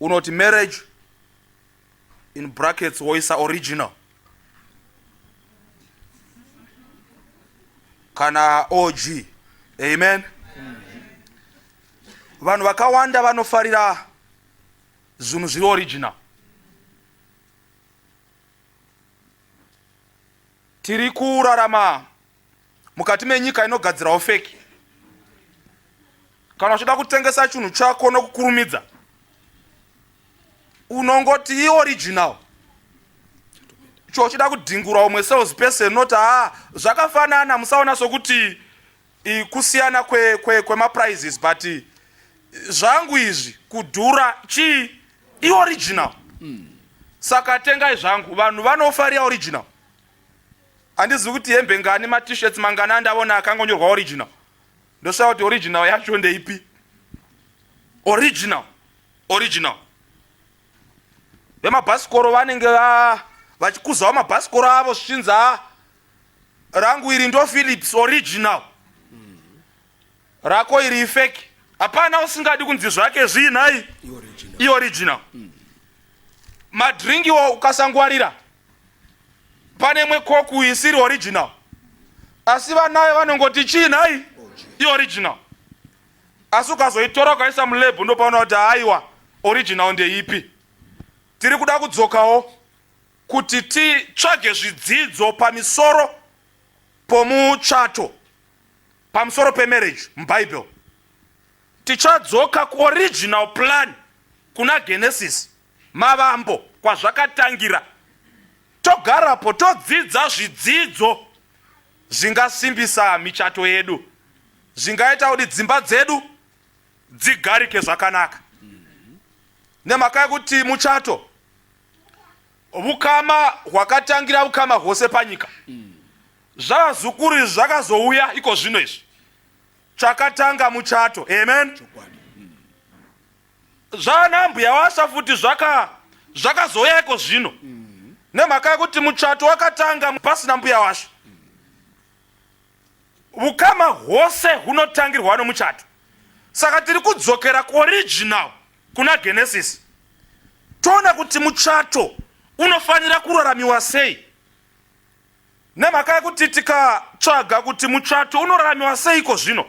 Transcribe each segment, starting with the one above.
unoti marriage in brackets woisa original kana og amen vanhu vakawanda vanofarira zvinhu zviri original tiri kurarama mukati menyika inogadzirawo feki kana uchida kutengesa chinhu chako nokukurumidza unongoti ioriginal chochida kudhingura umwe sales person not a ah, zvakafanana musaona sokuti kusiyana kwemaprizes kwe, kwe but zvangu izvi kudhura chii ioriginal mm. saka tengai zvangu vanhu vanofarira original handizivi kuti hembe ngani matishirts mangani andaona akangonyorwa original ndoshaya kuti original yacho ndeipi original original vemabhasikoro vanenge vachikuzawo mabhasikoro avo svichinza rangu iri ndo philips original rako iri ifeki hapana usingadi kunzi zvake zviinhai ioriginal madringiwo ukasangwarira pane imwe koku isiri original asi vanayo vanongoti chii nhai ioriginal asi ukazoitora ukaisa mulebhu ndopaona kuti haiwa original ndeipi tiri kuda kudzokawo kuti titsvage zvidzidzo pamisoro pomuchato pamusoro pemarriage mubhaibheri tichadzoka kuoriginal plan kuna genesis Mavambo kwazvakatangira togarapo todzidza zvidzidzo zvingasimbisa michato yedu zvingaita kuti dzimba dzedu dzigarike zvakanaka nemhaka yekuti muchato vukama hwakatangira vukama hwose panyika zvavazukuru izvi zvakazouya iko zvino izvi chakatanga muchato amen Chokwadi. zvaanambuya washa futi zvaka zvakazouya iko zvino nemhaka yekuti muchato wakatanga pasina mbuya washa ukama hwose hunotangirwa nomuchato saka tiri kudzokera kuoriginal kuna genesis toona kuti muchato unofanira kuraramiwa sei nemhaka yekuti tikatsvaga kuti muchato unoraramiwa seiko zvino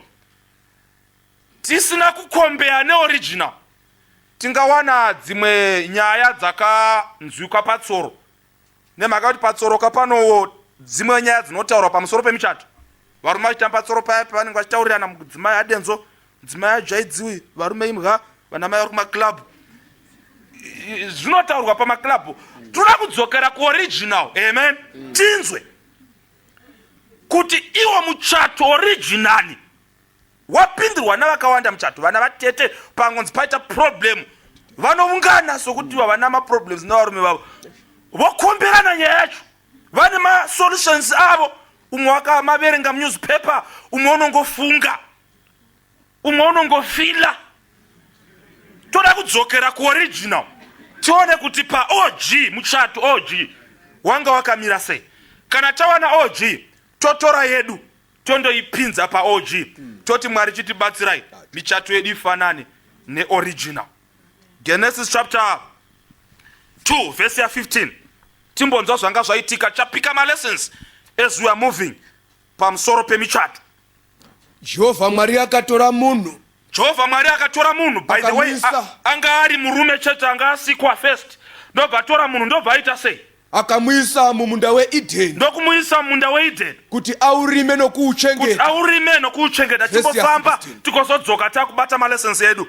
Tisina kukombeya neoriginal tingawana dzimwe nyaya dzakanzwikwa patsoro nemhaka kuti patsoro kapanowo dzimwe nyaya dzinotaurwa pamusoro pemichato varume vachitamba patsoro paya pavanenge vachitaurirana mudzimai adenzo mudzimai ajaidziwi varume imha vanamai vari kumaclub zvinotaurwa pamaclub toda kudzokera kuoriginal amen tinzwe kuti iwo muchato originali wapindirwa navakawanda muchato vana vatete pangonzi paita problem vanoungana sokuti vavana maproblems nevarume vavo vokomberana nyaya yacho vane masolutions avo umwe wakamaverenga munewspaper umwe unongofunga umwe unongofila toda kudzokera kuoriginal tione kuti paog muchato og wanga wakamira sei kana tawana og totora yedu tondoipinza paog mm. toti mwari chitibatsirai michato yedu ifanane neoriginal genesis chapter 2 verse ya 15 timbonzwa zvanga zvaitika chapika malessons as we are moving pamusoro pemichato Jehovha Mwari akatora munhu jehovha mwari akatora munhu by the way Akamuisa. a- anga ari murume chete anga asikwa first ndobva atora munhu ndobva aita sei akamuisa mumunda weEdheni ndokumuisa mumunda weedeni kuti aurime kuti nokuuchengeta. aurime nokuuchengeta Verse ya timbofamba 16. tikozodzoka takubata malessons edu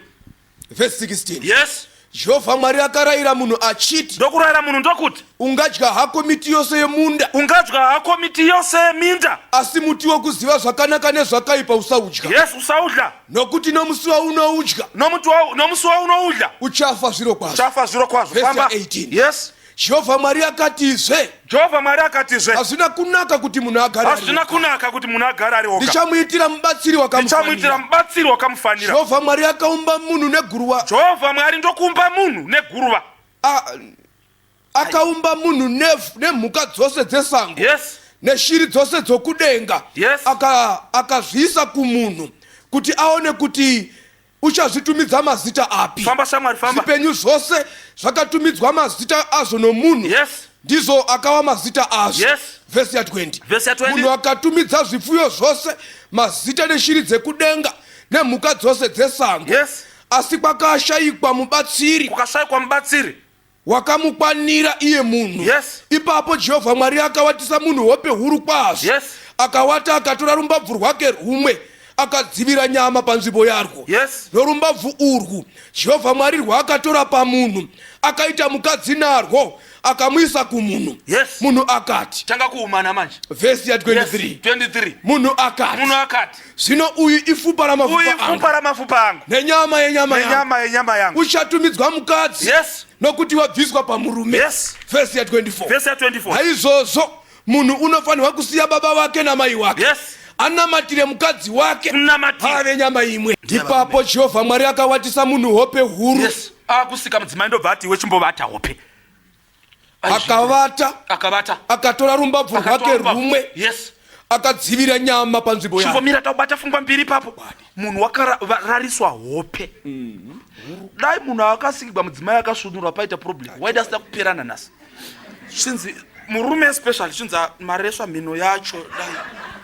Verse 16. yes jehovha mwari akarayira munhu achiti ndokurayira munhu ndokuti ungadya hako miti yose yemunda ungadya hako miti yose yeminda asi muti wokuziva zvakanaka nezvakaipa usaudya yes usaudya nokuti nomusi waunoudya nomuti wa- nomusi waunoudya uchafa zviro kwazvo uchafa zviro kwazvo Verse famba 18. yes Jehovha Mwari akatizve, Jehovha Mwari akatizve, hazvina kunaka kuti munhu agare ari hazvina oga. kunaka kuti munhu agare ari oga. Ndichamuitira mubatsiri Ndichamuitira wakamufanira. mubatsiri wakamufanira. Jehovha Mwari akaumba munhu neguruva. Jehovha Mwari ndokuumba munhu neguruva. A- Akaumba munhu nev- nemhuka dzose dzesango Yes. neshiri dzose dzokudenga. Yes. Aka- Akazviisa kumunhu kuti aone kuti Uchazvitumidza mazita api? Famba shamwari famba. Zvipenyu zvose zvakatumidzwa mazita azvo nomunhu. Yes. Ndizvo akawa mazita azvo. Yes. Vhesi ya 20. Vhesi ya 20. Munhu akatumidza zvipfuyo zvose mazita neshiri dzekudenga nemhuka dzose dzesango. Yes. Asi kwakashayikwa mubatsiri. Kukashayikwa mubatsiri. wakamukwanira iye munhu yes. ipapo jehovha mwari akawatisa munhu hope huru kwazvo yes. akawata akatora rumbabvu rwake rwumwe akadzivira nyama panzvimbo yarwo yes. norumbabvu urwu jehovha mwari rwaakatora pamunhu akaita mukadzi narwo akamuisa kumunhu yes. munhu akati tanga kuumana manje vhesi ya 23 yes. 23 munhu akati munhu akati Zvino uyu ifupa Uyu ramafupa ifupa angu ramafupa angu nenyama yenyama yangu. nenyama yenyama yangu. Uchatumidzwa mukadzi Yes. nokuti wabviswa pamurume. Yes. Vhesi ya 24. Verse ya 24. Naizvozvo munhu unofanirwa kusiya baba vake namai wake. Yes. Anamatire mukadzi wake. Kunamatira. Vave nyama imwe. Ndiye Ipapo Jehovha Mwari akawatisa munhu hope huru. Yes. Akusika mudzimai ndobva ati iwe chimbovata hope. akavata akavata akatora rumbabvu rwake rumwe yes akadzivira nyama panzvimbo yake chivomira taubata fungwa mbiri papo munhu wakarariswa hope mm. dai munhu akasikigwa mudzimai akasvunurwa paita problem waida asida kuperana nhasi chinzi murume especially chinzi ah, maresva mhino yacho dai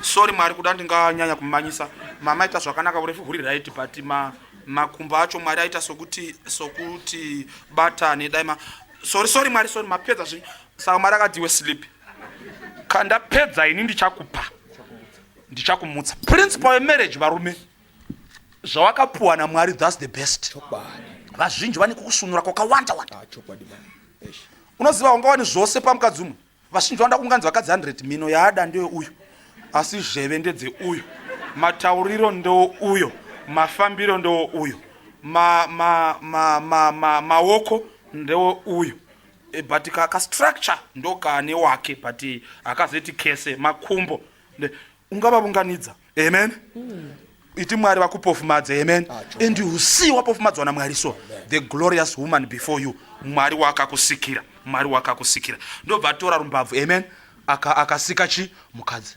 sorry mwari kuda ndinganyanya kumanyisa mama ita zvakanaka urefu huri right but ma makumbo acho mwari aita sokuti sokuti batane dai sorry sorry mwari sorry mapedza zvinhu saka mwari akadiwe sleep kandapedza ini ndichakupa ndichakumutsa principle yemarriage varume zvawakapuwa namwari thats the best vazhinji vane kukusunura kwakawanda wanda ah, unoziva ungawani zvose pamukadzi umwe vazhinji vanoda kunganzi vakadzi 100 mhino yaada ndeye uyu asi zheve ndedze uyu matauriro ndewo uyo mafambiro ndewo uyo maoko ma, ma, ma, ma, ma ndewo uyo e, but kastructure ka ndokaane wake but akazoiti kese makumbo ungavavunganidza amen mm. iti mwari vakupofumadze amen ah, and you see wapofumadzwa namwari so amen. the glorious woman before you mwari wakakusikira mwari wakakusikira ndobva atora rumbabvu amen akasika aka chi mukadzi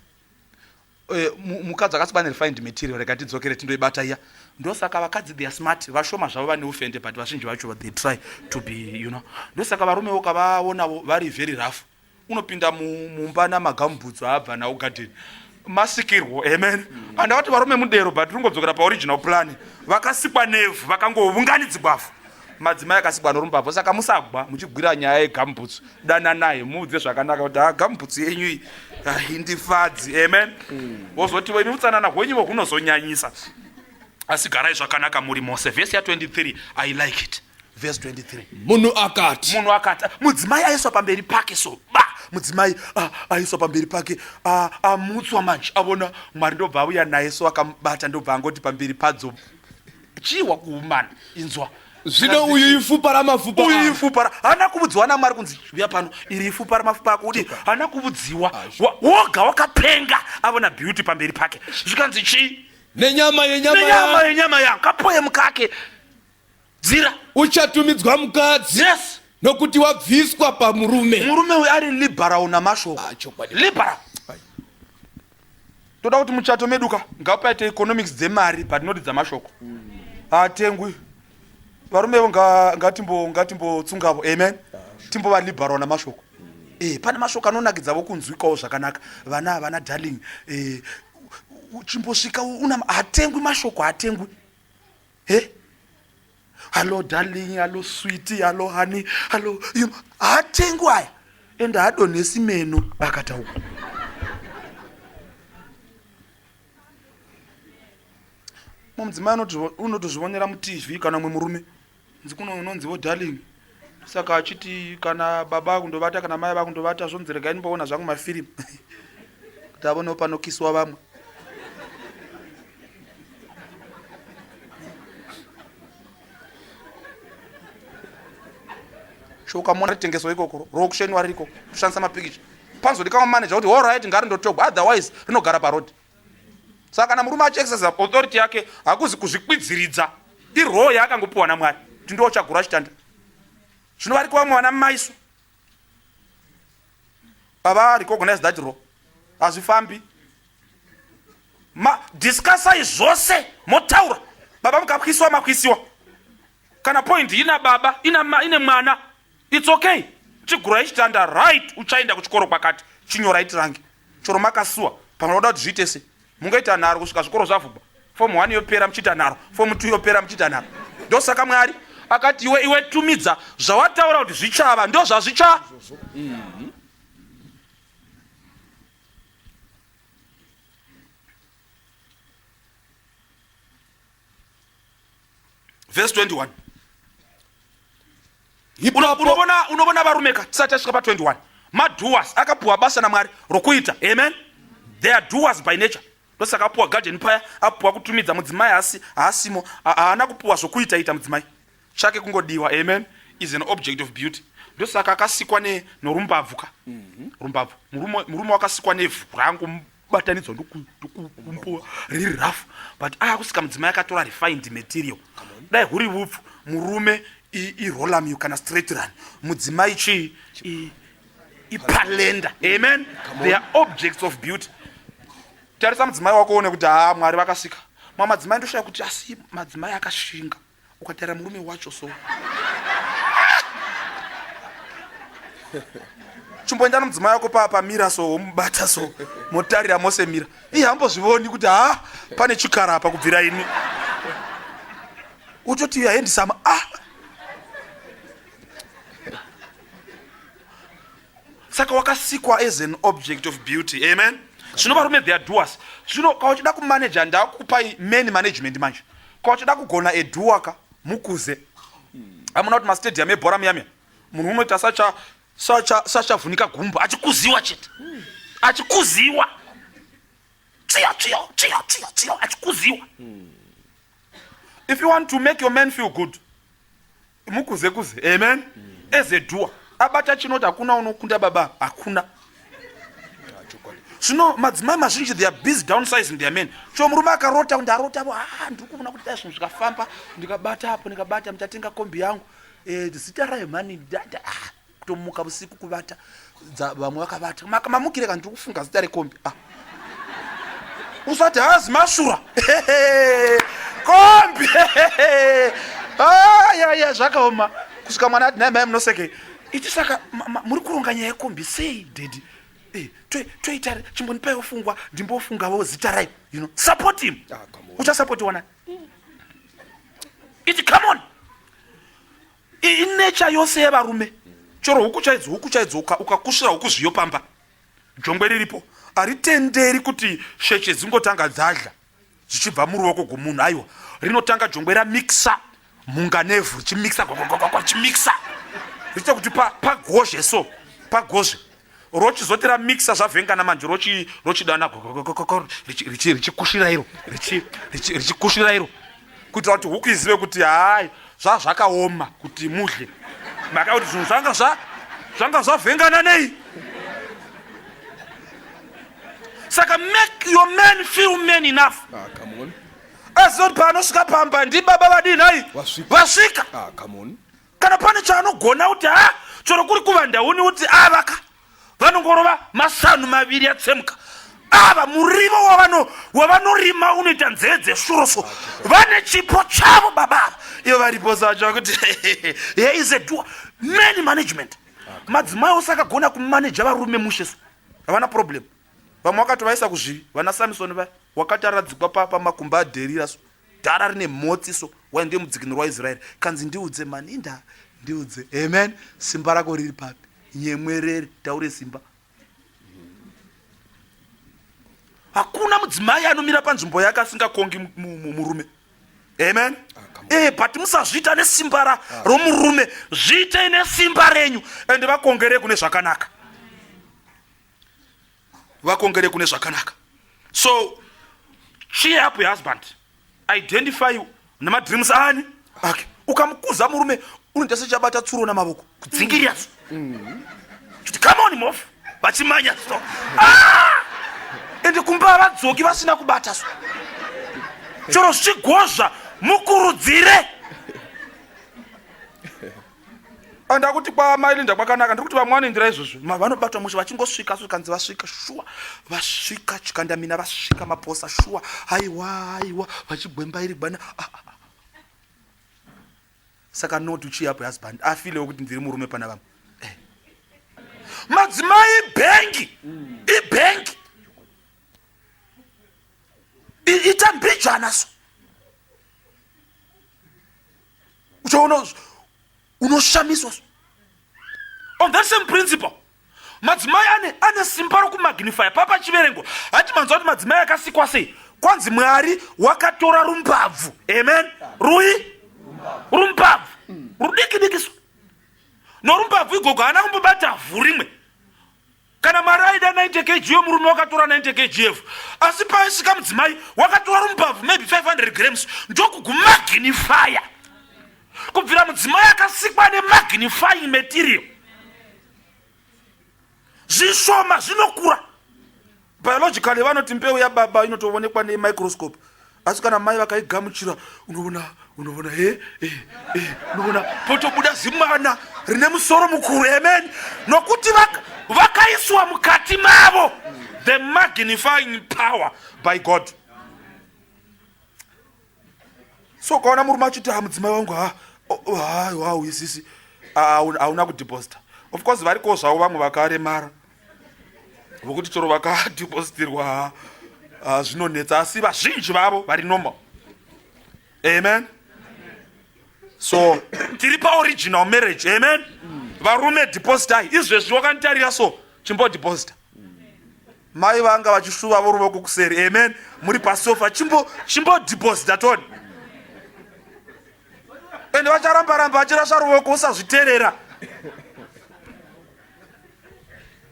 Eh, mukadzi akasiba nerefined material rega tidzokere tindoibata iya ndosaka vakadzi theyar smart vashoma zvavo vane ufende but vazhinji vacho they try to be you know ndosaka varumewo kavaonavo vari very rough unopinda mumba namagamubhutsu aabva nawo garden masikirwo amen mm. andavati varume mudero but ringodzokera paoriginal plan vakasikwa nevhu vakangovunganidzibwafu madzimai akasikwa norumbabvu saka musagwa muchigwira nyaya yegamubhutsu dananai muudze zvakanaka kuti ha ah, gamubhutsu yenyu iyi ah, indifadzi amen mm. wozotivo imi utsanana hwenyu vo hunozonyanyisa asi garai zvakanaka muri mose vhesi ya23 i like it vhesi 23 munhu akati munhu akati mudzimai aiswa pamberi pake so ba mudzimai ah, aiswa pamberi pake ah, amutswa manje avona mwari ndobva auya naye so akamubata ndobva angoti pamberi padzo chiwa kuumana inzwa zvino uyu ifupa ramafupa uyu ifupa hana kuvudziwa namwari kunzi uya pano iri ifupa ramafupa ako kuti hana kuvudziwa woga wakapenga avona beauty pamberi pake zvikanzi chii nenyama yenyama nenyama ya- yenyama yangu kapo yemukake dzira uchatumidzwa mukadzi yes nokuti wabviswa pamurume murume uyu ari liberal namashoko Ah, chokwadi. liberal toda kuti muchato meduka ngapaite economics dzemari but not dzamashoko hatengwi varume vo nga- ngatimbo ngatimbotsungavo amen timbova liberal namashoko Eh, pane mashoko anonakidza vokunzwikawo zvakanaka vana vana darling eh, uchimbosvika una hatengwi mashoko hatengwi he hallo darling hallo switi hallo honey hallo you know, hatengwi aya ende hadonhesi meno akataura mudzimai unotozvionera mutv kana mwe murume nzi kuno unonzivo darling saka achiti kana baba vakundovata kana mai vakundovata zvonzi regai ndimboona zvangu mafirimu kuti avonewo panokiswa vamwe shokamona ritengeswa ikoko rokushenwa ririko kushandisa mapikicha panzodikama manager kuti horit ngari ndotogwa otherwise rinogara parod saka kana murume achiexercise authority yake hakuzi kuzvikwidziridza iroho yaakangopiwa namwari kuti ndiwo chagura chitanda zvino variko vamwe vana maisu ava recognize that role hazvifambi madiscusai zvose motaura baba mukakwisiwa makwisiwa kana point ina baba ina ma, ine mwana its okay chigurai chitanda right uchaenda kuchikoro kwakati chinyorai tirange choro makasuwa pamwe vanoda kuti zviite se mungaita nharo kusvika zvikoro zvavhubwa fomu one yopera muchiita nharo fomu two yopera muchiita nharo ndosaka mwari akati iwe iwe tumidza zvawataura kuti zvichava ndo zvazvicha vhesi 21 unovona varume ka tisati tasvika pa 21 maduas akapuwa basa namwari rokuita amen they are duas by nature ndosaka apuwa garden paya apuwa kutumidza mudzimai asi haasimo haana kupuwa zvokuita ita mudzimai chake kungodiwa amen is an object of beauty ndosaka akasikwa norumbabvu ka mhm. rumbabvu murume wakasikwa nevhu rangu batanidzwa ndokumpuwa riri rafu but aya kusika mudzimai akatora refined material dai huri vupfu murume irolamu kana straight run mudzimai chii ipalenda amen they are objects of beauty tarisa mudzimai wako one kuti haa mwari vakasika mamadzimai ndoshaya kuti asi madzimai akashinga ukatara murume wacho so chimboenda nomudzimai wako paa pamira so womubata so motarira mose mira ii hambozvivoni kuti ha pane chikara apa kubvira ini utoti uyo aendisama ah saka wakasikwa as an object of beauty amen zvino varume their doers zvino ka uchida kumanaja ndakupai many management manje ka uchida kugona eduwaka mukuze amuna kuti mastadium ebhora muyamya munhu unoita sacha sacha sachavhunika gumba achikuziwa chete achikuziwa tsiyo tsiyo tsiyo tsiyo tsiyo achikuziwa if you want to make your man feel good mukuze kuze amen as a doer abata chinoti hakuna unokunda baba hakuna zvino madzimai mazhinji they are busy downsizing their men so murume akarota kuti ndarota vo ah, ndiri kuona kuti dai zvinhu zvikafamba ndikabata apo ndikabata mtatenga kombi yangu eh, zita rayo mhani ah. kutomuka vusiku kuvata vamwe vakavata mamukire kana tiri kufunga zita rekombi ah. usati hazi mashura kombi ah, ya ya zvakaoma kusvika mwana ati nhai mai munoseke ichi saka muri kuronga nyaya yekombi sei dedi eh, toita chimbonipaiwo fungwa ndimbofungavo zita rai you know support him ah, uchasapotiwa nai iti come on inecha yose yevarume chero huku chaidzo huku chaidzo ukakusvira uka huku zviyo pamba jongwe riripo haritenderi kuti sheshe dzingotanga dzadla zvichibva muruoko gwomunhu aiwa rinotanga jongwe ramixa mhunga nevhu richimixa richimixa richiita kuti pagozhe pa so pagozhe rochizoti ramixa zvavhengana manje rochidana richikushira iro richikushira iro kuitira kuti huku izive kuti hai zvazvakaoma kuti mudle maka kuti zvinhu zvanga zvanga zvavhengana nei saka make your man feel man enough ah, azive kuti paanosvika pamba ndibaba vadii nhai vasvika ah, kana pane chaanogona kuti ha ah, chero kuri kuvanda uni uti avaka ah, vanongorova masanu maviri atsemuka ava murivo wavanorima unoita nzeve dzeshuro so vane chipo chavo baba ava ivo varipo sacho kuti here is a dua many management madzimai ose akagona kumaneja varume mushe so havana problem vamwe vakatovaisa kuzvivi vana samisoni vaya wakati aradzikwa pamakumba aderira so dhara rine mhotsi so why ndiye mudzikinuri waisraeri kanzi ndiudze mani inda ndiudze amen simba rako riri papi nyemwerere taure simba hakuna mudzimai anomira panzvimbo yake asingakongi murume amen ee eh, but musazviita nesimba ra ah. romurume zviitei nesimba renyu ende vakongere kune zvakanaka vakongere kune zvakanaka so cheer up your husband identify nemadreams ani ake ukamukuza murume unoita sechabata tsuro namavoko kudzingirira so mm-hmm. kuti come on mof vachimanya so ah! ende kumba vadzoki vasina kubata so chero zvichigozva mukurudzire andakuti kwaamai linda kwakanaka ndiri kuti vamwe vanoindira izvozvo vanobatwa mushe vachingosvika zvikanzi vasvika shuwa vasvika chikandamina vasvika maposa shuwa haiwa haiwa vachigwemba iri gwana ah, ah, ah. saka not uchiyapo husband afilewo kuti ndiri murume pana vamwe eh. madzimai ibhengi ibhengi ita mbijana so uchaona unoshamiswa on that same principle madzimai ane ane simba rokumagnifya papa chiverengo hati manzwa kuti madzimai akasikwa sei kwanzi mwari wakatora rumbabvu amen rui rumbabvu rudikidikiso norumbabvu igogo haana kumbobata vhu rimwe kana mwari aida 90 kg yomurume wakatora 90 kgf asi paisika mudzimai wakatora rumbabvu maybe 500 grams ndokugumagnifaya kubvira mudzimai akasikwa nemagnifying material zvishoma zvinokura biologically vanoti mbeu yababa inotoonekwa nemicroscope asi kana mai vakaigamuchira unoona unoona he eh, eh, eh, unoona potobuda zimwana rine musoro mukuru amen nokuti vakaiswa mukati mavo the magnifying power by god so ukaona murume achiti ha mudzimai wangu ha haiwa uisisi hauna kudeposita of course varikowo zvavo vamwe vakaremara vokuti chero vakadhipositirwa ah, zvinonetsa asi vazhinji vavo vari normal amen so tiri paoriginal marriage amen varume depositai izvezvi wakanditarira so chimbodhiposita mai vanga vachishuva voruvoko kuseri amen muri pasofa chimbodhiposita toni ende vacharamba ramba vachirasha ruoko usazviterera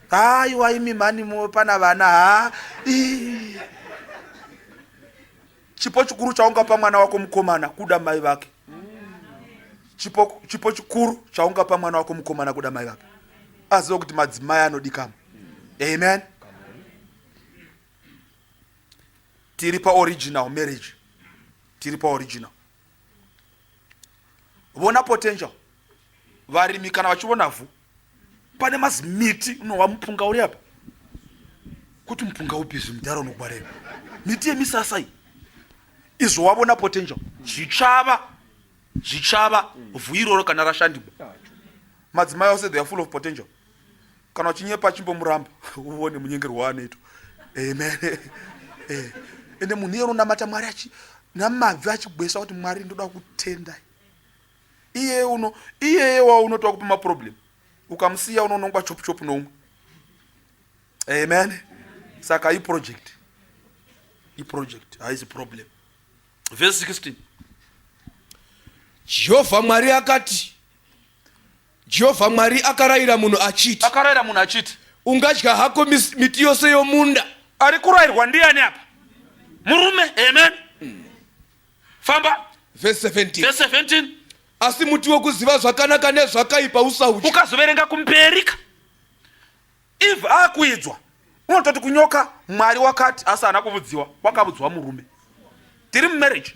haiwa imi mhani muwe pana vana ha chipo chikuru chaungapa mwana wako mukomana kuda mai vake chipo, chipo chikuru chaungapa mwana wako mukomana kuda mai vake aziva kuti madzimai anodikama amen tiri paoriginal marriage tiri paoriginal vona potential varimi kana vachivona vhu pane mazimiti unohwa mupunga uri apa kuti mupunga upi zvimudhara unokwareva miti yemisasa iyi izvo wavona potential zvichava zvichava vhu iroro kana rashandibwa madzimai ose they are full of potential kana uchinyepa chimbomuramba uone munyengero waanoita amen eh, ende munhu iye unonamata mwari achi namabvi achigwesa kuti mwari ndoda kutenda iye uno iyeye wa unoti wakupa maproblem ukamusiya unonongwa chopu chopu noumwe amen saka iproject iproject haisi problem vhesi 16 jehovha mwari akati Jehovha Mwari akarayira munhu achiti, akarayira munhu achiti ungadya hako mis- miti yose yomunda. ari kurayirwa ndiani apa murume amen famba Verse 17. verse 17 Asi muti wokuziva zvakanaka nezvakaipa usaudya. ukazoverenga kumberi ka eve akuidzwa unototi kunyoka mwari wakati asi haana kuvudziwa wakavudzwa murume tiri mumarriage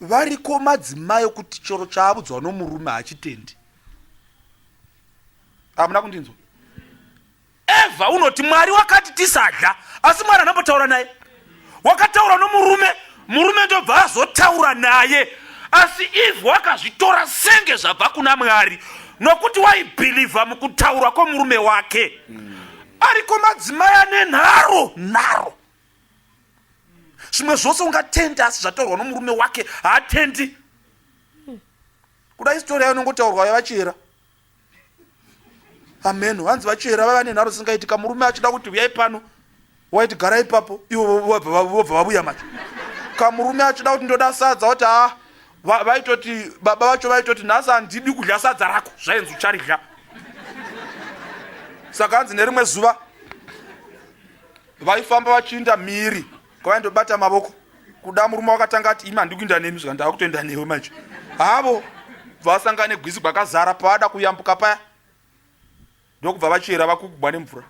Variko madzimai okuti chero chaavudzwa nomurume hachitendi. Hamuna kundinzwa? Eva unoti Mwari wakati tisadya, asi Mwari anambotaura naye. Wakataura nomurume, murume ndobva azotaura naye. Asi Eve wakazvitora senge zvabva kuna Mwari nokuti waibhilivha mukutaura kwomurume wake. Mm. Ariko madzimai ane nharo, nharo. zvimwe zvose ungatende asi zvataurwa nomurume wake haatendi kuda istori yayo inongotaurwa yavachera ameno hanzi vachera vaiva nenharo dzisingaitika murume achida kuti huyai pano waiti gara ipapo ivo vobva vavuya macho kamurume achida kuti ndoda sadza wati haa vaitoti baba vacho vaitoti nhasi handidi kudya sadza rako zvainzi ucharidya saka hanzi nerimwe zuva vaifamba vachiinda mhiri kwavaindobata mavoko kuda murume wakatanga ati imi handikuinda nemi zvika ndakutoenda newe manje havo vasangane gwisi gwakazara pavada kuyambuka paya ndokubva vachera vakugubwa nemvura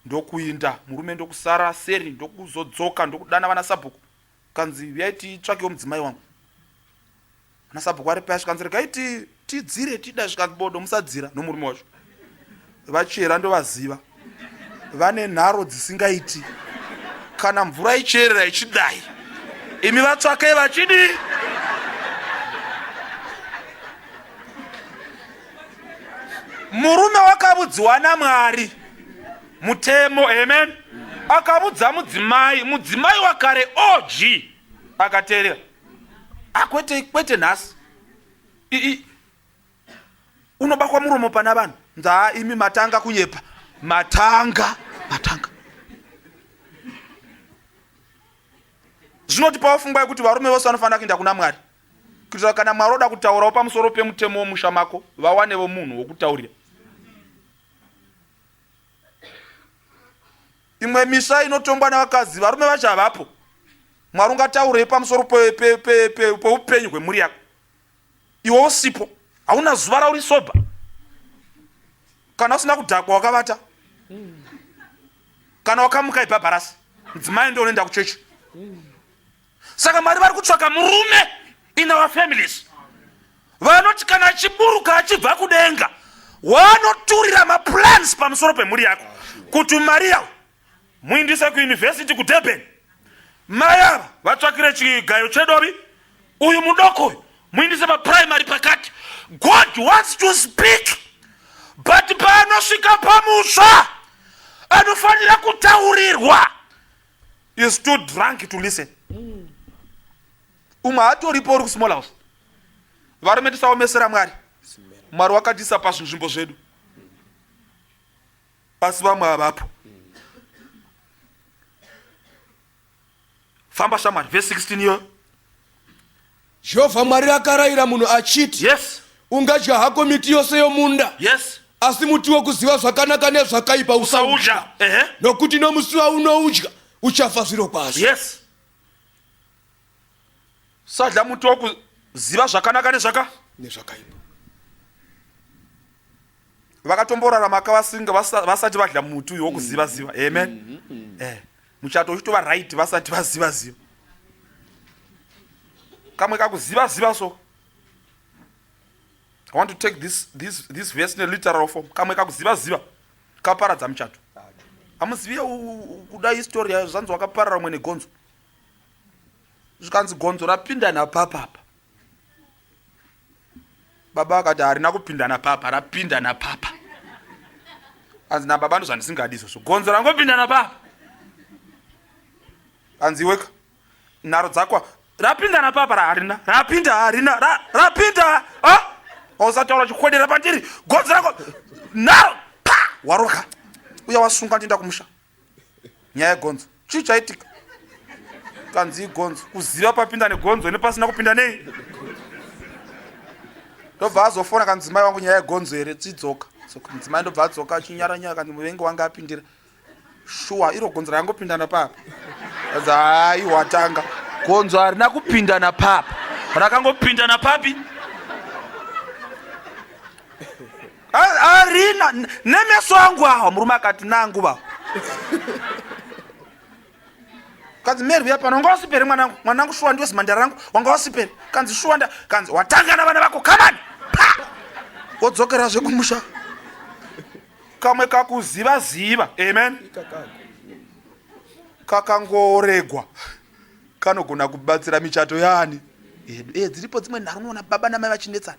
ndokuinda murume ndokusara seri ndokuzodzoka ndokudana vana sabhuku kanzi huyai titsvakewo mudzimai wangu ana sabhuku ari paya zvikanzi regai tidzire tida zvikanzi bodo musadzira nomurume wacho vachera ndovaziva vane nharo dzisingaiti kana mvura icherera ichidai imi vatsvakei vachidii murume wakavudziwa namwari mutemo amen akavudza mudzimai mudzimai wakare og akateerera akwete ah, kwete nhasi unobakwa muromo pana vanhu nzaa imi matanga kunyepa matanga matanga zvinoti pawafungwa yekuti varume vose vanofanira kuenda kuna mwari kuitira kana mwari oda kutaurawo pamusoro pemutemo womusha mako vawanevo munhu wokutaurira imwe misha inotongwa nevakadzi varume vacho havapo mwari ungataurei pamusoro peupenyu hwemhuri yako iwe usipo hauna zuva rauri soba kana usina kudhakwa wakavata kana wakamuka ibhabharasi mudzimai ndo unoenda kuchechi saka mwari vari kutsvaka murume in our families vanoti kana achiburuka achibva kudenga wanoturira maplans pamusoro pemhuri yako kuti mari yawo muindise kuyunivhesiti kudurban mai ava vatsvakire chigayo chedovi uyu mudoko uyu muindise papuraimary pakati god wants to speak but paanosvika pamusha anofanira kutaurirwa is too drunk to listen umwe hatoripo uri kusmall house varume tisaomesera mwari mwari wakatisa pazvinzvimbo zvedu asi vamwe havapo famba shamwari vese 16 iyoyo jehovha mwari akarayira munhu achiti yes ungadya hako miti yose yomunda yes asi muti wokuziva zvakanaka nezvakaipa usaudya usaudya ehe nokuti nomusi waunoudya uchafa zviro kwazvo yes sadya muti wokuziva zvakanaka nezvaka nezvakaipa vakatomborara maka vasinga vasati vadya muti uyo wokuziva mm-hmm. ziva amen mm -hmm. eh, muchato uchitova right vasati vaziva ziva kamwe kakuziva ziva so i want to take this, this, this verse ne literal form kamwe kakuziva ziva kaparadza muchato amuziviye kuda histori yayo zvanzi wakaparara umwe negonzo zvikanzi gonzo rapinda napapapa baba vakati harina kupinda napapa rapinda napapa anzi nababa ndo zvandisingadi izvozvo gonzo rangopinda napapa anzi iweka nharo dzakwa rapinda napapa raharina rapinda harina rapinda ausataura chikwedera pandiri gonzo rako nharo pa waroka uya wasunga ndienda kumusha nyaya yegonzo chii chaitika kanzi igonzo kuziva papinda negonzo nepasina kupinda nei ndobva azofona ka mudzimai wangu nyaya yegonzo here tidzoka mudzimai ndobva adzoka achinyara nyaya kanzi muvengi wange apindira shuwa iro gonzo rangopindana papa kanzi hai watanga gonzo harina kupindana papa rakangopindana papi arina nemeso angu awa murume akati nangu va kanzi meri uya pano wanga wasipere mwanangu mwanangu shuwa ndiwe zimandara rangu wanga wasipere kanzi shuwa nda kanzi watanga na vana vako kamani pa wodzokera zve kumusha kamwe kakuziva ziva amen kakangoregwa kanogona kubatsira michato yani edu e dziripo dzimwe nharo unoona baba namai vachinetsana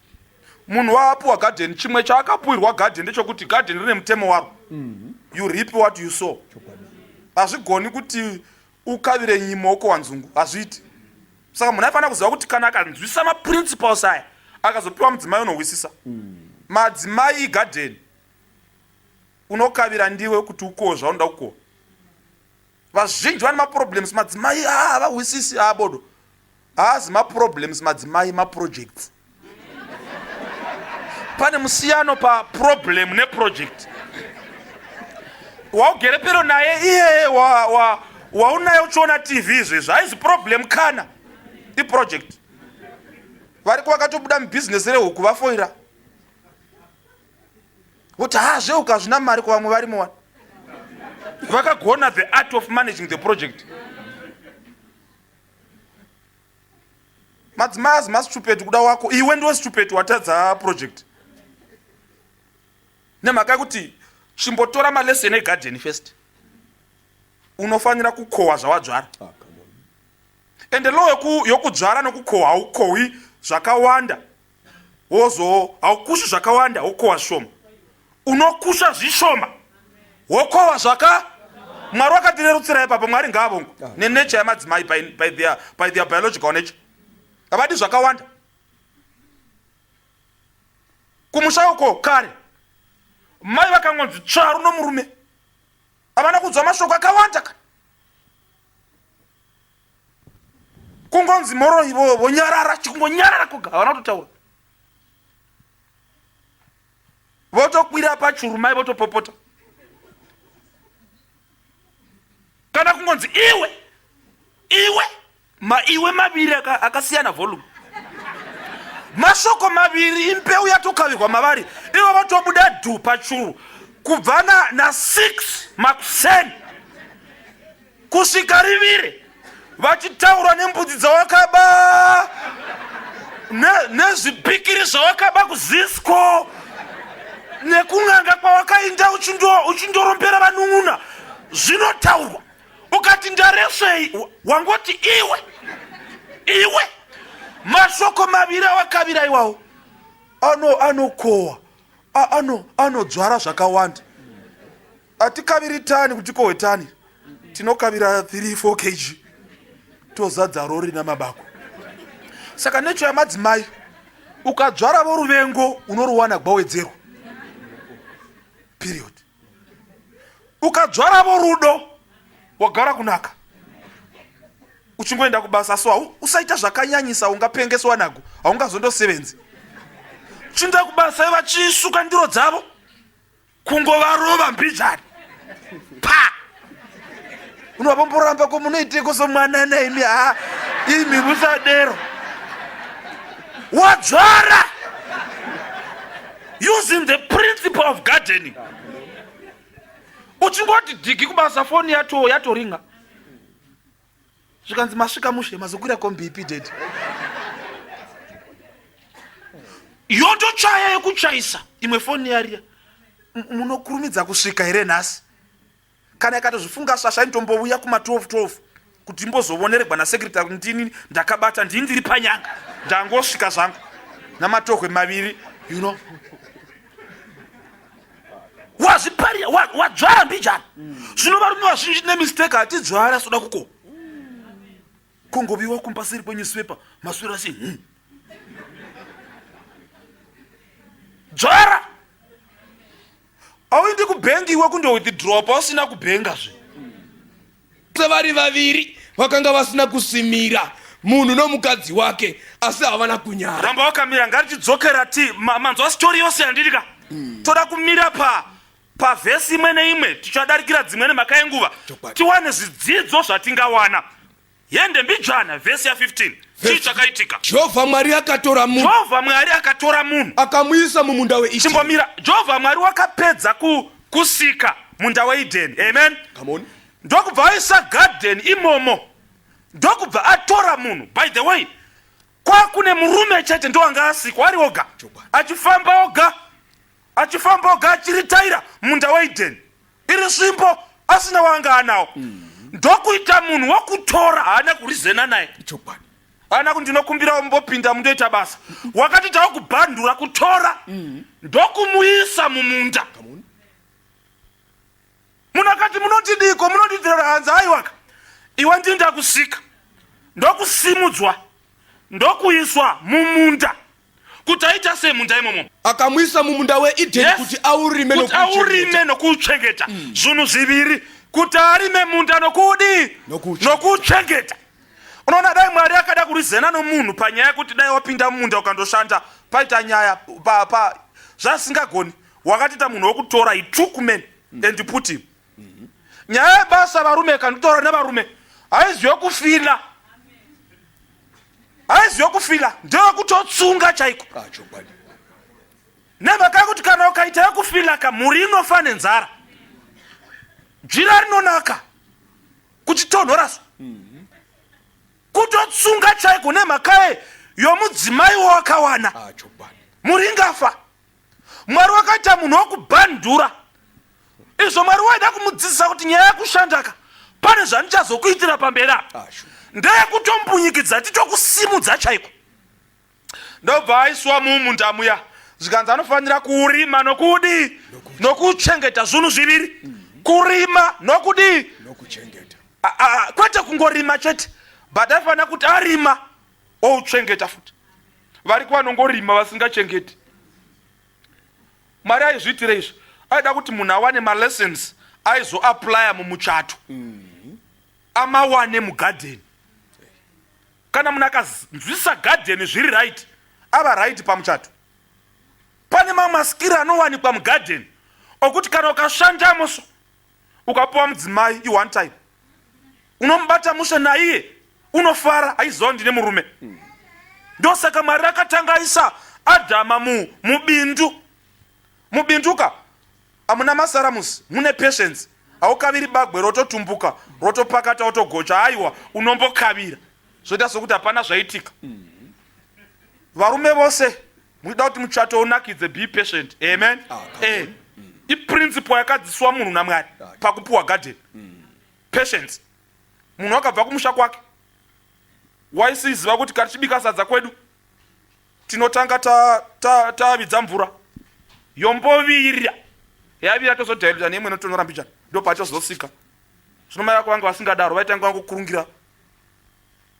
munhu waapuwa garden chimwe chaakapuwirwa garden ndechokuti garden rine mutemo waro mhm. you rip what you saw hazvigoni kuti ukavire nyima wokowa nzungu hazviiti saka munhu aifanira kuziva kuti kana akanzwisisa maprinciples aya akazopiwa mudzimai unohwisisa mm. madzimai igadeni unokavira ndiwe kuti ukowo zvaunoda kukowa vazhinji vane maproblems madzimai ah, havahwisisi haa ah, bodo haazi maproblems madzimai maprojects pane musiyano paproblem neproject waugere pero naye iyeye waunaye uchiona tv izvezvo haizi problem kana iproject variko vakatobuda mubhizinesi rehuku vafoira kuti ha zveuka hazvina mari kuvamwe varimo wani vakagona the art of managing the project madzimai azi masitupetu kuda wako iwe ndiwe situpetu watadza project nemhaka yekuti chimbotora malesson egarden first unofanira kukohwa zvawadzvara ah, ende low yokudzvara nokukohwa haukohwi zvakawanda wozowo haukushi zvakawanda wokowa zvishoma unokusha zvishoma wokowa zvaka mwari wakatirerutsira ipapo mwari ngaavongwe ah. nenature yamadzimai by their, by their biological nature havadi zvakawanda kumusha uko kare mai vakangonzi tsvaru nomurume havana kunzwa mashoko akawanda ka kungonzi moroyi vonyarara chikungonyarara koga havana kutotaura votokwira pachuru mai votopopota kana kungonzi iwe iwe maiwe maviri akasiyana volume mashoko maviri impeu yatokavirwa mavari ivo vatobuda dhu pachuru kubva na 6 makuseni kusvika riviri vachitaura nembudzi dzawakaba nezvipikiri zvawakaba kuzisko nekun'anga kwawakainda uchindorombera vanun'una zvinotaurwa ukati ndaresvei wangoti iwe iwe mashoko maviri awakavira iwawo anokowa anodzvara zvakawanda atikaviri tani kuti kowe tani tinokavira 3 4 kg tozadza rori namabako saka necho yamadzimai ukadzvara voruvengo unoruwana gwawedzerwa period ukadzvara vorudo wagara kunaka uchingoenda kubasa so usaita zvakanyanyisa ungapengeswa nago haungazondosevenzi chinda kubasa iva chiisuka ndiro dzavo kungovarova mbijani pa unovamboramba ko munoiteko somwana naimi ha imi musadero wadzvara using the principle of gardening uchingoti dhigi kubasa foni yato yatoringa zvikanzi masvika mushe mazokwira kombi ipi dedi yotochaya yekuchaisa imwe foni yariya munokurumidza kusvika here nhasi kana ikatozvifunga shasha inotombouya kuma 12 12 kuti imbozovoneregwa nasekretary kuti ndini ndakabata ndini ndiri panyanga ndangosvika zvangu namatohwe maviri you know wazviparira wadzvara mbijana zvino varume vazhinji tine mistake hatidzvara soda kuko kungoviwa kumbasiri kwenyusipepa maswiro asi hmm. dzvara auindi kubhengi iwe kundowithdropa usina kubhenga zve Sevari vaviri vakanga vasina kusimira munhu nomukadzi wake asi havana kunyara. Ramba wakamira ngatichidzokera ti ma, manzwa story yose yandiri ka. Mm. Toda kumira pa pavhesi imwe neimwe tichadarikira dzimwe nemhaka yenguva tiwane zvidzidzo zvatingawana yende mbijana vhesi ya15 chii chakaitika jehovha mwari akatora munhu jehovha mwari akatora munhu akamuisa mumunda weishchimbomira jehovha mwari wakapedza ku kusika munda weidheni amen ndokubva aisa garden imomo ndokubva atora munhu by the way kwakune murume chete ndoanga asikwa ari oga achifamba oga achifamba oga achiritaira munda weidheni iri svimbo asina waanga anawo mm. ndokuita munhu wokutora haana kurizena naye Ana kundinokumbirawo mumbopinda mundoita basa. Wakati tawo kubhandura kutora mm-hmm. ndokumuisa mumunda. Munakati munotidiko munondidira hanzi aiwaka. Iwe ndini ndakusika. Ndokusimudzwa. Ndokuiswa mumunda. kuti aita sei munda imomo akamuisa mumunda weedheni yes. kuti aurime kuti aurime nokuuchengeta mm. zvinhu zviviri kuti arime munda nokudii nokuuchengeta unoona dai mwari akada kurizena nomunhu panyaya yekuti dai wapinda mumunda ukandoshanda paita nyaya pa, pa zvasingagoni wakatiita munhu wekutora itukumen mm. and put him nyaya yebasa varume kanditaura nevarume haizive kufila haizive kufila ndeyekutotsunga chaiko ah, nemhaka yekuti kana ukaita yekufila ka mhuri inofa nenzara jira rinonaka kuchitonhoraso mhm. kutotsunga chaiko nemhakaye yomudzimai wawakawana ah, mhuri ingafa mwari wakaita munhu wokubhandura izvo mwari waida kumudzidzisa kuti nyaya yekushandaka pane zvandichazokuitira pamberi apa ah, ndeyekutombunyikidza titokusimudza chaiko ndobva aiswa mumunda muya zvikanzi anofanira kurima nokudii nokuchengeta zvinhu zviviri mm-hmm. kurima nokudii kwete kungorima chete but aifanira kuti arima ouchengeta futi variko vanongorima vasingachengeti mwari aizviitira izvi aida kuti munhu awane malessons aizoaplya mumuchato mm-hmm. amawane mugadheni kana munhu akanzwisa gadheni zviri right ava right pamuchato pane mamwe masikiri anowanikwa mugadheni okuti kana ukashandamo so ukapuwa mudzimai i one time unomubata mushe naiye unofara aiziva ndine murume ndosaka mwari akatanga aisa adhama mu mubindu mubinduka amuna masaramusi mune patience haukaviri bagwe rototumbuka rotopakata otogocha aiwa unombokavira zvoita sokuti hapana zvaitika varume vose muchida kuti muchato unakidze be patient amen ah, eh, mm. iprinciple yakadziswa munhu namwari ah, pakupiwa garden mm. patience munhu akabva kumusha kwake waisiziva kuti katichibika sadza kwedu tinotanga tavidza ta, ta, ta mvura yombovirira yavira tozodhailuta neimwe inotonora mbichana ndopachozosika zvino mai vako vange vasingadaro vaitanga vangokurungira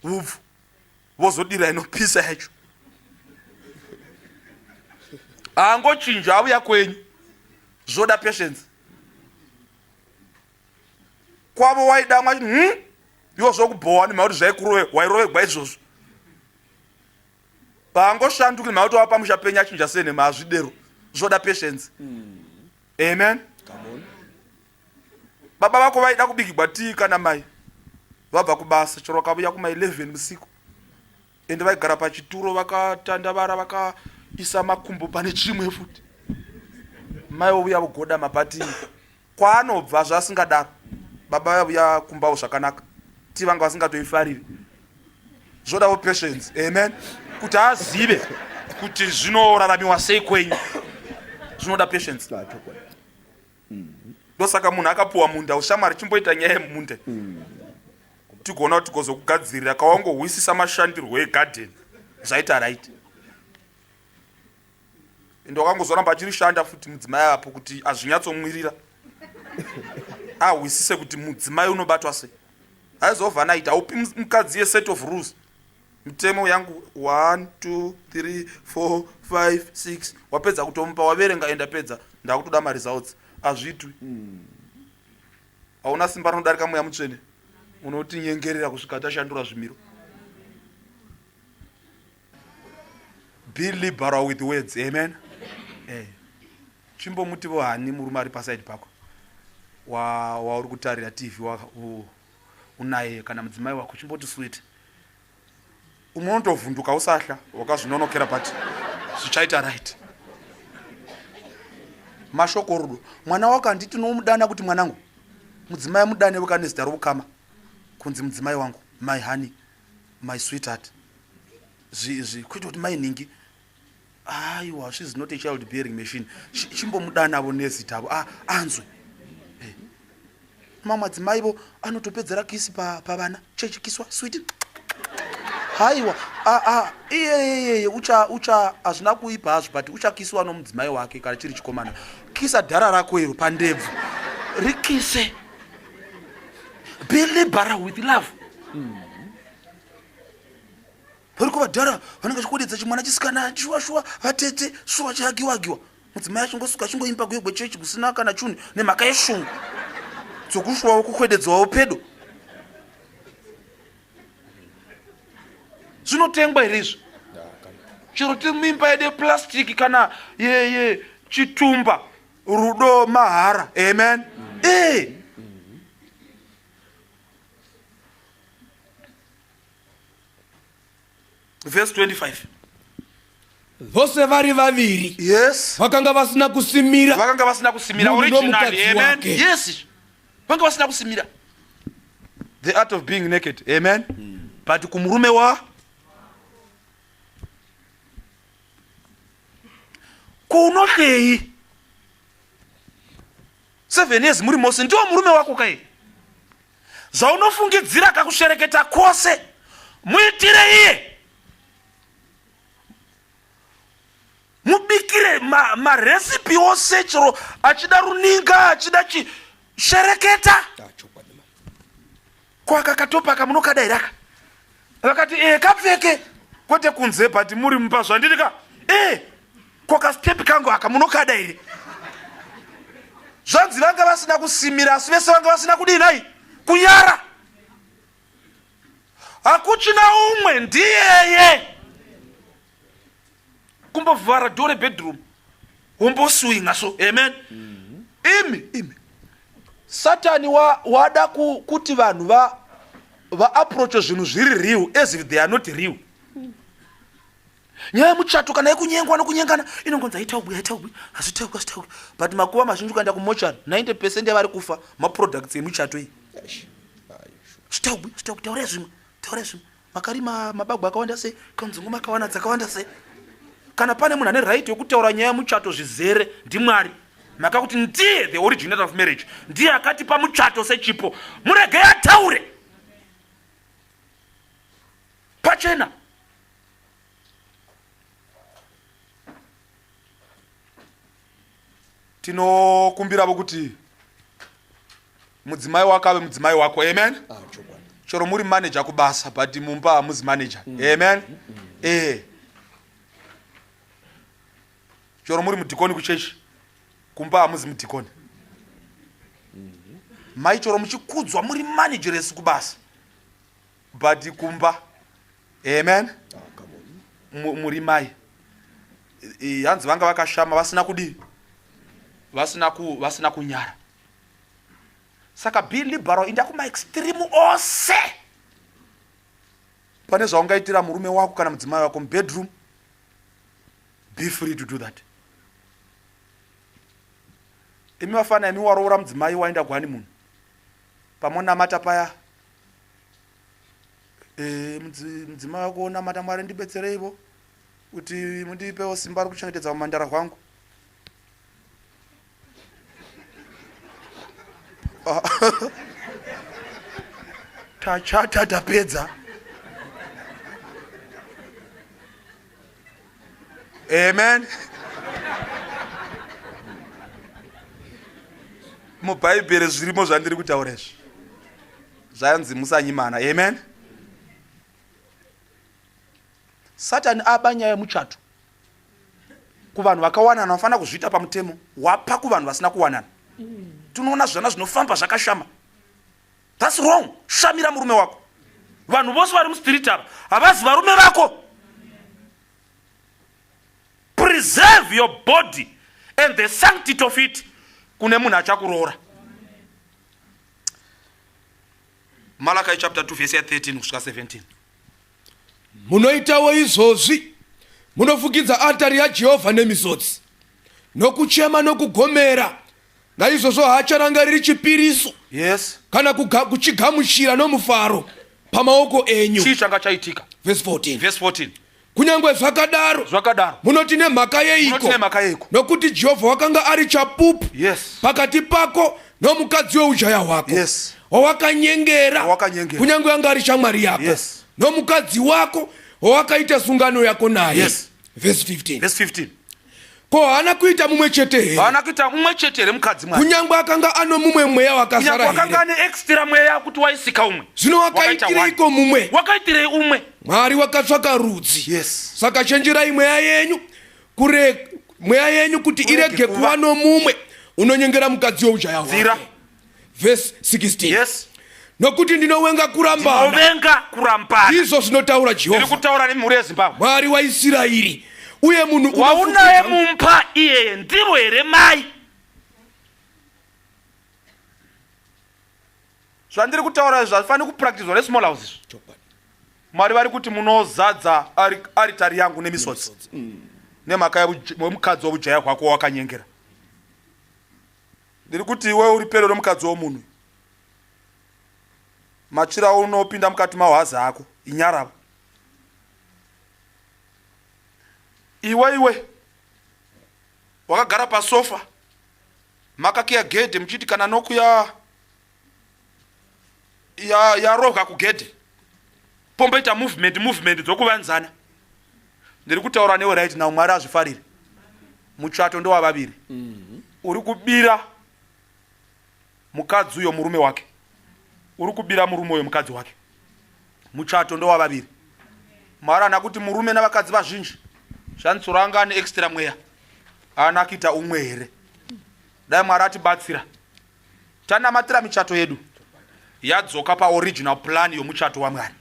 hubvu vozodira inopisa yacho haangochinja auya kwenyu zvoda patience kwavo waidamwa hmm? iwo zvokubhowa ni mauti zvaikurove wairovegwa izvozvo paangoshanduki mauti wava pamusha penyu achinja senhema hazvidero zvoda patience mm. amen Come on. baba vako vaida kubikigwa tii kana mai vabva kubasa chero vakavuya kuma 11 musiku ende vaigara pachituro vakatandavara vakaisa makumbo pane chimwe futi mai vovuya vogoda mapatii kwaanobva zvasingadaro baba vayavuya kumbawo zvakanaka tii vanga vasingatoifariri zvodavo patience amen kuti azive kuti zvinoraramiwa sei kwenyu zvinoda patience ndosaka munhu akapuwa munda ushamwari chimboita nyaya yemunde tigoona kuti tigozokugadzirira kawangohwisisa mashandirwo egadheni zvaita right ende wakangozoramba achirishanda futi mudzimai apo kuti azvinyatsomwirira ahwisise kuti mudzimai unobatwa sei haizovanaita upi mukadzi yeset of rules mutemo yangu 1 2 3 4 5 6 wapedza kutomupa waverenga enda pedza ndakutoda maresults azvitwi hauna simba rinodarika mweya mutsvene unotinyengerera kusvika tashandura zvimiro be liberal with words amen eh. chimbomuti vohani murume ari pasaidi pako wauri wa kutarira tv wa, uh. unaye kana mudzimai wako chimboti sweet umwe unotovhunduka usahla wakazvinonokera but zvichaita right mashoko rudo mwana wako handiti unomudana kuti mwanangu mudzimai amudane weka nezita roukama kunzi mudzimai wangu my honey my sweetheart zviizvi kwete kuti mainhingi aiwa she is not a child bearing machine chimbomudanavo nezita avo ah, anzwe eh. mamwe madzimai vo anotopedzera kisi pavana pa chechi kiswa switi haiwa ah, ah, iyeyeye ucha ucha hazvina kuipa hazvo but uchakisiwa nomudzimai wake kana chiri chikomana kisa dhara rako iro pandebvu rikise be liberal with love mm. variko vadhara vanenge vachikodedza chimwana chisikana shuwa shuwa vatete shuwa chagiwa agiwa mudzimai achingosuka achingoimba guyo gwechechi kusina kana chunhu nemhaka yeshungu dzokushuwawo kukwededzwawo pedo zvinotengwa here izvi chero tiri mimba yedu yeplastiki kana yeye chitumba rudo mahara amen mm. e vhesi 25 vose vari vaviri yes vakanga vasina kusimira vakanga vasina kusimira originally amen yes vakanga vasina kusimira the art of being naked amen mm. but kumurume wa kunohleyi seven years muri mose ndiwo murume wako kai zvaunofungidzira kakushereketa kwose muitire iye mubikire maresipi ma ose chero achida runinga achida chi shereketa ah, kwaka katopa kamunokada here aka vakati ee eh, kapfeke kwete kunze but muri mumba zvandiri ka ee eh. ko kastep kangu aka munokada here zvanzi vanga vasina kusimira asi vese vanga vasina kudii nai kunyara hakuchina umwe ndiyeye kumbovhara dore bedroom womboswinga so amen mhm. imi imi satani wa, wada ku, kuti vanhu va, va approache zvinhu zviri real as if they are not real nyaya yemuchato kana yekunyengwa nokunyengana inongonzi haitaugwi haitaugwi hazvitaugwi hazvitaugwi but makuva mazhinji ukaenda kumochari 90 percent yavari kufa maproducts emuchato iyi zvitaugwi zvitaugwi taurai zvimwe taurai zvimwe makarima mabagwa akawanda sei kanzungu makawana dzakawanda sei kana pane munhu ane right yekutaura nyaya yemuchato zvizere ndimwari maka kuti ndiye the originator of marriage ndiye akatipa muchato sechipo muregei ataure pachena tinokumbiravo kuti mudzimai wako ave mudzimai wako amen ah, chero muri manager kubasa but mumba hamuzi manager mm. amen ee eh. chero muri mudhikoni kuchechi kumba hamuzi mudhikoni mm-hmm. mai chero muchikudzwa muri manageresi kubasa but kumba amen muri mai hanzi vanga vakashama vasina kudii vasina ku vasina kunyara saka be liberal inda kuma extreme ose pane zvaungaitira murume wako kana mudzimai wako mubedroom be free to do that imi vafana imi waroora mudzimai waenda kuhani munhu pamonamata paya eh, mudzimai wako unamata mwari ndibetsereivo kuti mundipewo simba rekuchengetedza umandara hwangu ah. tachata tapedza amen mubhaibheri zvirimo zvandiri kutaura izvi zvanzi musanyimana amen satani aba nyaya yemuchato kuvanhu vakawanana vanofanira kuzviita pamutemo wapa kuvanhu vasina kuwanana tinoona zvana zvinofamba zvakashama thats wrong shamira murume wako vanhu vose vari muspirit ava havazi varume vako preserve your body and the sanctity of it kune munhu achakuroora malakai chapter 2 vese ya 13 kusvika 17 munoitawo izvozvi munofukidza altari yajehovha nemizodzi nokuchema nokugomera naizvozvo haacharangariri chipiriso yes kana kuga- kuchigamuchira nomufaro pamaoko enyu chii changa chaitika Verse 14. verse 14 kunyange zvakadaro zvakadaro munoti nemhaka yeiko Munoti nemhaka yeiko? nokuti jehovha wakanga ari chapupu yes pakati pako nomukadzi weujaya hwako Yes. wawakanyengera Wawakanyengera. kunyange anga ari shamwari yako Yes. nomukadzi wako wawakaita sungano yako naye Yes. Verse 15. verse 15 Ko haana kuita mumwe chete here? Haana kuita mumwe chete here mukadzi mwana? Kunyangwe akanga ano mumwe mweya wakasara here? Kunyangwe akanga ane extra mweya kuti waisika umwe. Zvino wakaitireiko mumwe? Wakaitirei umwe? Mwari wakatsvaka rudzi. Yes. Saka chenjerai mweya yenyu kure mweya yenyu kuti irege kuva nomumwe unonyengera mukadzi weujaya hwake. vhesi 16 yes nokuti ndinowenga kurambanovenga kurambana ndizvo zvinotaura jehovha ndiri kutaura nemhuri yezimbabwe mwari waisirairi uye munhu waunaye mumba iyeye ndiro here mai zvandiri kutaura izvi hazvifaniri kupractizwa nesmall house izvi mwari vari kuti munozadza aritari yangu nemisodzi mm. nemhaka yemukadzi wobujaya hwako wakanyengera ndiri kuti iwe uri pedo remukadzi womunhu machira unopinda mukati mahwazi ako inyaravo iwe iwe wakagara pasofa makakiya gedhe muchiti kana nokuya yarohwa ya kugedhe pomboita movement movement dzokuvanzana ndiri kutaura newe right now mwari azvifarire mutsvato ndowavaviri mhm. uri kubira mukadzi uyo murume wake uri kubira murume uyo mukadzi wake mutsvato ndowavaviri mwari ana kuti murume navakadzi vazhinji zvanitsoro anga ane extra mweya aana kuita umwe here dai mwari atibatsira tanamatira michato yedu yadzoka paoriginal plan yomuchato wamwari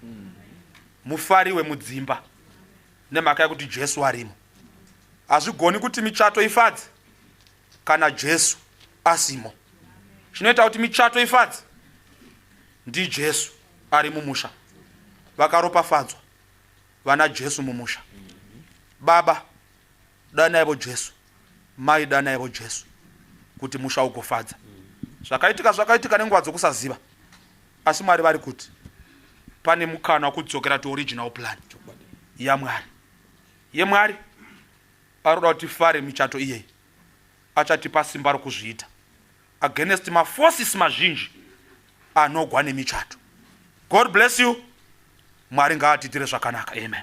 mufari wemudzimba nemhaka yekuti jesu arimo hazvigoni kuti michato ifadze kana jesu asimo chinoita kuti michato ifadze ndijesu ari mumusha vakaropafadzwa vana jesu mumusha baba danaivo jesu mai danaivo jesu kuti musha ugofadza zvakaitika zvakaitika nenguva dzokusaziva asi mwari vari kuti pane mukana wekudzokera to original plan yamwari yemwari aroda kuti fare michato iyeyi achatipa simba rokuzviita against maforces mazhinji anogwa nemichato god bless you mwari ngaatitire zvakanaka amen